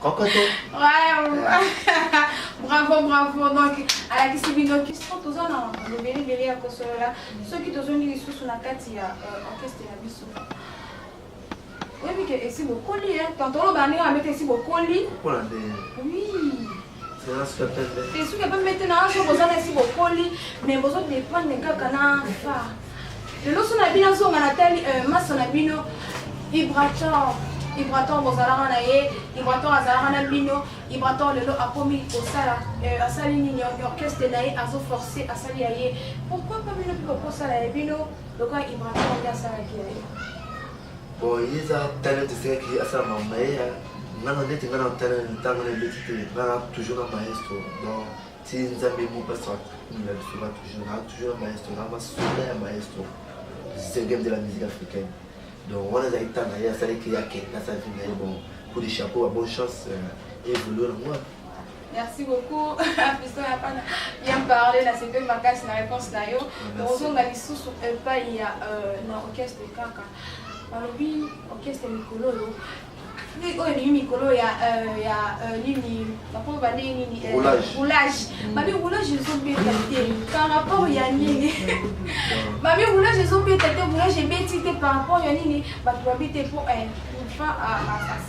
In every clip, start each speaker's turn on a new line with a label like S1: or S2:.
S1: kokoto
S2: bravo bravo donc alakisi bino kiso toza na lobelebele ya kosolola soki tozongi lisusu na kati ya euh, orchestre ya biso oyebi ke esi bokoli tantoloba ndenge amete esi bokoli oui
S1: esuki epembe te na azo
S2: bozana esi bokoli me bozo dependre kaka na fa lelo so na bino azonga natali euh, maso na bino ibrator ibrator bozalaka na ye ibrator azalaka na bino ibrator lelo akomi kosala euh, asali nini orchestre na ye azo force asali ya ye pourquoi pa bino mpe kokosala ya bino lokola ibrator nde asalaki ya ye bon
S1: ye eza talent esengaki asala mamaye ya ngana ndeti ngana talent ntango na ebeti te ngana toujours na maestro donc ti nzambe mo pastor akumela biso ba toujours na toujours na maestro na basoda ya maestro zengem de la musique africaine donc wana ezalaki ntango na ye asalaki akenda sa vie na ye bon coup de chapeau ba bonne chance euh, evolue na mwana Merci
S2: beaucoup. Fiston ya pana bien parler na c'est ma casse na réponse na yo. Tozonga lisusu epai ya euh, na orchestre kaka. Balobi orchestre mikolo oyo oyo oh, elingi mikolo ya euh, ya euh, nini bakomi bandenge nini roulage euh, babi roulage ezobeta te par rapport ya nini babi roulage ezobeta te roulage ebeti te par rapport ya nini bato babi te mpo enfin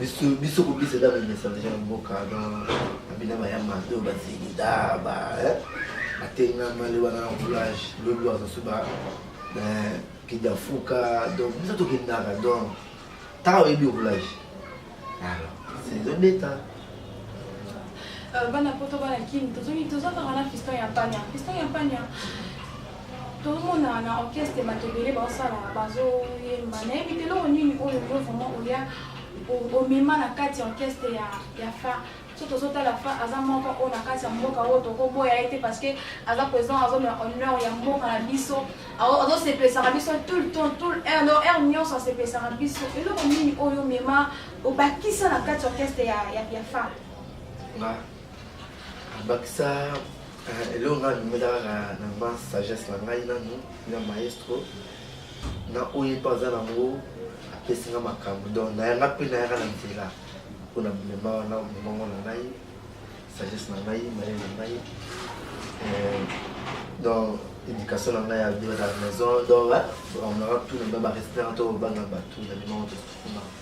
S1: biso biso kobisa eza bamesa deja na mboka na abina bayamba mpe oyo bazilida batengama le wana na roulage lobi bazosu ba kenda fuka donc biso tokendaka donc ntango oyebi roulage alors ezobeta bana
S2: poto bana kini tozongi tozokaka na fiston ya pania fiston ya pania tozomona na orchestre bato ebele baosala bazoyemba nayebi te eloko nini oyo yo vraiment oya omema na kati ya orchestre ya, ya fa so tozotala fa aza moko oyo na kati ya mboka oyo tokoboya ye te parce que aza président azomela honneur ya mboka na biso azosepesaka biso tout le temps tout heure no heure nyonso asepesaka biso eloko nini oyo omema obakisa na kati ya orchestre ya, ya, ya fa
S1: bakisa eloko ngai alingela kaka na ma sagesse na ngai nanu na maestro na oyo mpe aza nango apesi nga makambo donc nayanga mpe nayaka na nzela mpo na bilema wana mongongo na ngai sagesse na ngai mayele na ngai euh, donc éducation na ngai ya bio na maison donc bamonaka tout na ngai barespect to banga bato na mimao tosukumaka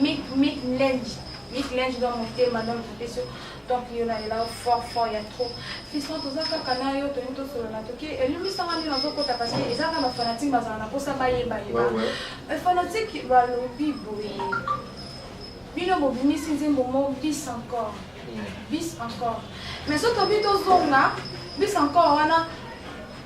S2: Mick Mick Lenji Mick Lenji dans mon thème dans le profession donc yo na ela fort fort ya trop fiston toza kaka na yo tolingi tosolola toki elimbisanga nini nazokota parce que eza kaka bafanatique bazala na mposa bayeba yeba fanatique balobi boye bino bobimisi nzembo mo bis encore bis encore mais soki tobi tozonga bis encore wana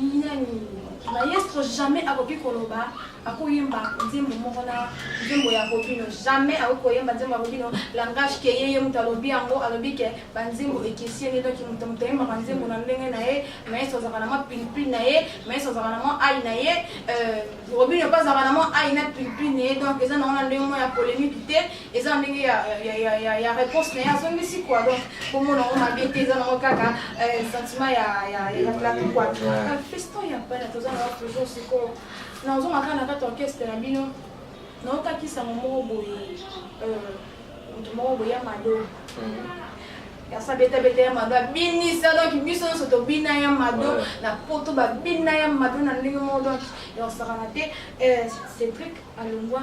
S2: Nyani. Maestro jamais akoki koloba akoyemba nzembo moko na nzembo ya Robino. Jamais akoki koyemba nzembo ya Robino. Langage ke ye ye moto alobi yango alobi ke ba nzembo ekeseni donc moto moto ayembaka nzembo na ndenge na ye. Maestro azalaka na mwa pilipili na ye. Maestro azalaka na mwa ai na ye. Euh, Robino mpe azalaka na mwa ai na pilipili na ye donc eza na wana ndenge moko ya polemique te. eza ndenge ya, ya, ya, ya, ya réponse na ye azongisi kua donc komona yango mabe te eza nango kaka euh, sentiment ya, ya, ya, ya plateau kua euh, feston ya bana toza na yango toujours sikoyo nazonga kaka na kati orchestre na bino naokaki sango moko boye euh, moto moko boye ya mado yasa betabeta ya mado abinisa donk biso nyonso tobina ya mado na poto babina ya mado na ndenge moko donk yosakana te cédrik alongwa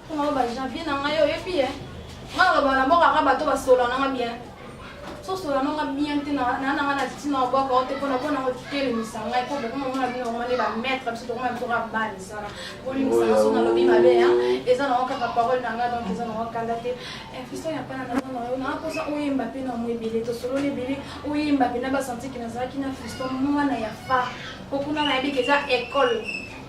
S2: Koma ba janvier na ngai oyebi ye. Nga na bana mboka nga bato ba solo na nga bien. So solo na nga bien te na na nga na tina wa boko te pona pona ko kele misa nga ko boko mo na bino ngone ba maître biso to ngoma bitora bani sana. Boli misa nga so na lobi mabe hein. Eza na kaka parole na nga donc eza na kanda te. Eh fiso ya pana na na yo na ko sa oyemba pe na mwe bele to solo le bele oyemba pe na ba senti que na zaki na fiso mwana ya fa. Kokuna na yebi que eza école.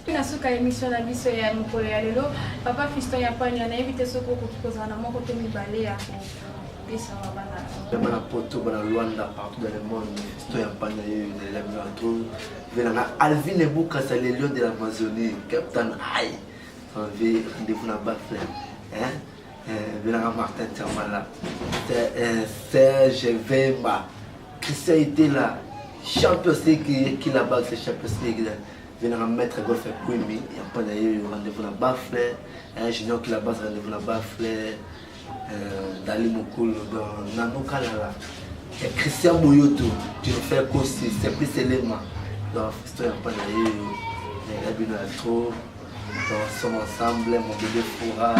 S2: Mpe na suka ya emission na biso ya mokolo ya lelo, Papa Fiston ya Panya, nayebi te soki okoki kozala na moko to mibale ya kopesa na bana. Bana Poto,
S1: bana Luanda, partout dans le monde, Fiston ya Panya, ye ezali bino na tour. Vela na Alvin Ebukasa, le lion de l'Amazonie, Captain Aïe, en vie, rendez-vous na Bafle. Hein? Euh, Belanga Martin Tiamala, euh, Serge Vemba, Christian Itela, champion c'est qui là-bas, c'est champion c'est qui là. Venaka maître golf ya Kwembi ya mpana yeyo rendez-vous na Bafle, Junior Kila Bass rendez-vous na Bafle, euh, Dali Mokolo dans Nano Kalala, ya Christian Boyoto, tu le fais Kosi, Simplice Elema dans Festo ya mpana yeyo, na bino ya trop, dans Somme Ensemble, mon bébé Foura,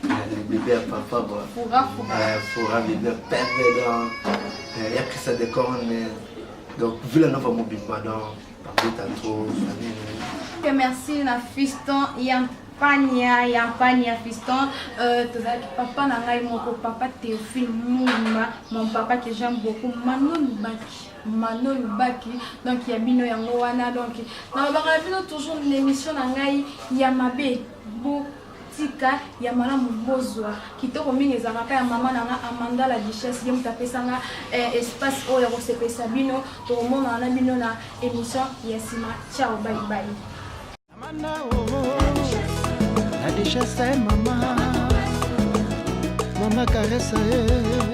S1: le bébé ya papa, bon, Foura, Foura, euh, Foura bébé Pembe dans, euh, ya Christian Decorne, donc Villa Nova Mobimba dans Que
S2: merci na fiston ya mpania ya mpania fiston euh, tozalaki papa na ngai moko papa théophile muma mon papa que j'aime beaucoup manon baki mano lubaki donc ya bino yango wana donc nalobaka na bino toujours na émission na ngai ya mabe tika ya malamu bozwa kitoko mingi ezalaka ka ya mama na nga amanda la duchesse ye moto apesa nga eh, espace oyo ya kosepelisa bino tokomonana na bino na émission ya nsima ciao baibai amanda oh, oh, oh.
S3: la duchesse eh, mama mama karesa eh.